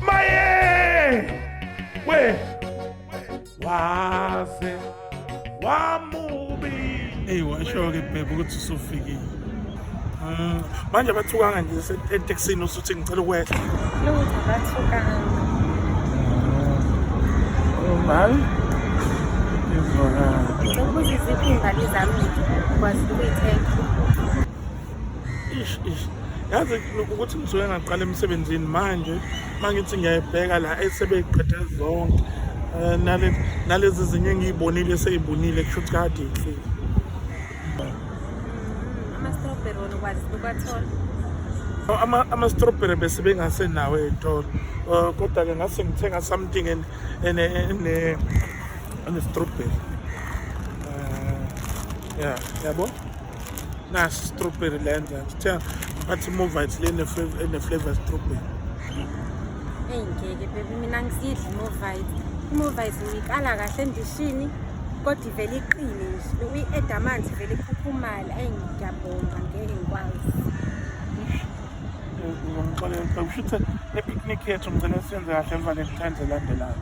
Maye! We! Waze wamubi. Hey washo ke bhebhe ukuthi usufikile. Mm. Manje bathukanga nje eTexini usuthi ngicela ukwehla. Lo bathukanga. Oh, Mali. Ngizwa. Ngicela ukuthi iziphi imbali zami kwazi ukuyithenga. ish ish yazi ukuthi ngisuke ngaqala emsebenzini manje mangithi ngiyayibheka la esebeqede zonke eh, nale nalezi zinye engiyibonile eseyibunile kusho ukuthi kade inhlile ama-strawberry wona ukwazi ukwathola ama-strawberry bese bengasenawo ey'tolo um kodwa-ke ngase ngithenga something ene-strawberry um ya yabo na strawberry lenza sithenga ngathi movite le ene-flavor strawberry eyi ngeke bebi mina ngisidli movite movite ngiyikala kahle endishini kodwa ivele iqine nje uyi-eda amanzi ivele ikhukhumale eyi ngiyabonga ngeke ngikwazi ngixolela xa kusho ukuthi ne-picnic yethu ngicela siyenze kahle emva ne-times elandelayo